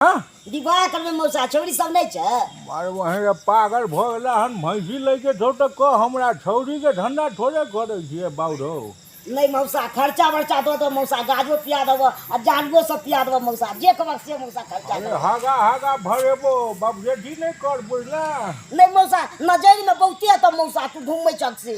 हँ विवाह करबै मौसा छौरी सब नहि छै अरे वहीं रे पागल भऽ गेला हन भैंसी लैके छौ तऽ कह हमरा छौरीके धन्दा थोड़े करै छियै बाउरो नहि मौसा खर्चा बर्चा दऽ दो मौसा गाजो पिया देबो आ जानवो सब पिया देबो मौसा जे कहबो से मौसा खर्चा अरे देबो हगा हगा भरेबो बाप जेठी नहि कर बुझला नहि मौसा नजरिमे बहुते तऽ मौसा तू घूमै छक से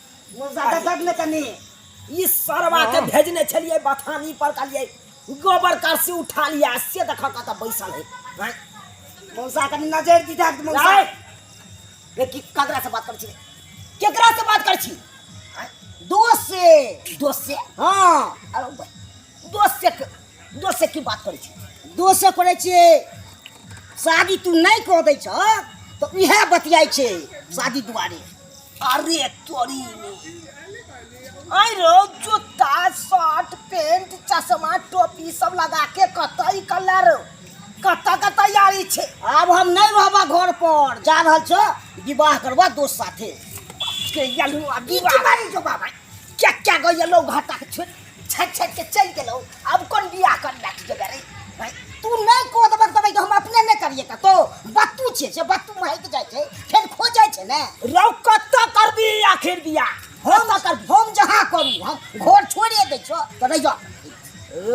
गुलजादा दर्द ने तनी ई सरवा के भेजने छलिए बथानी पर कलिए गोबर कर से उठा लिया से देखा का त बैसल है हैं? मौसा कनी नजर दी दर्द मौसा जाए रे की ककरा से बात कर छी केकरा से बात कर छी हैं? दोस्त से दोस्त से हां अरे भाई, दोस्त से क- दोस्त से की बात कर छी दोस्त से करे छी शादी तू नहीं कह दै छ तो इहे बतियाई छे शादी दुआरे अरे तोरी आई रो जूता शर्ट पेंट चश्मा टोपी सब लगा के कतई कलर कत के तैयारी छे आब हम नहीं रहबा घर पर जा रहल छ विवाह करबा दोस्त साथे के यलु अभी बारी जो बाबा क्या क्या गयलो घाटा के छे छट छट के चल गेलो अब कौन बियाह कर बैठ जेबे रे भाई तू नहीं को दबा दबा तो हम अपने नहीं करिए का तो बत्तू छे से बत्तू महक जाय छे फिर खो जाय छे ने रौ कत कर भी आखिर बियाह हम कर हम जहां करू हम घर छोड़िए दे छो तो रह जा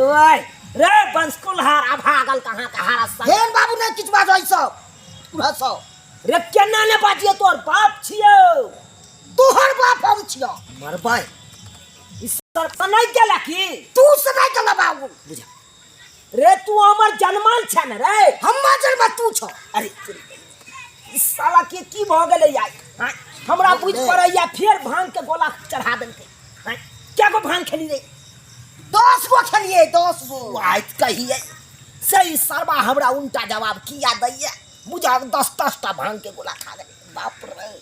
ओए रे बंसकुल हार अब हागल कहां का हारा सा हेन बाबू ने किछ बात होइसो पूरा सो रे केना ने बाजिए तोर बाप छियो तोहर बाप हम छियो मरबाई ई सर सनै गेला की तू सनै गेला बाबू बुझा रे तू हमर जनमान छै ने रे हम्मा जन्म तू छौ अरे ई साला के की भ गेलै यार हाँ, हमरा बुझ पड़ैया फेर भांग के गोला चढ़ा देलकै हाँ, क्या को भांग खेली रे दस गो खेलिए दस गो आइ कहिए से ई सरबा हमरा उल्टा जवाब किया दैया बुझा दस दस टा भांग के गोला खा गेलै बाप रे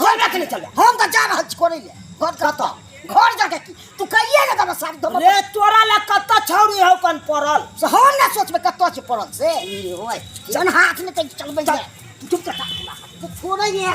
घर रख ले चले हम तो जा रहल छी करे ले घर कतऽ घर जाके की तू कहिए ने दबा सारी दबा रे तोरा ला कत छौरी हौ कन पड़ल से हम ना सोचबे कतऽ छै पड़ल से होय जन हाथ में तक चलबे जा तू चुप कर जा तू छोड़े ये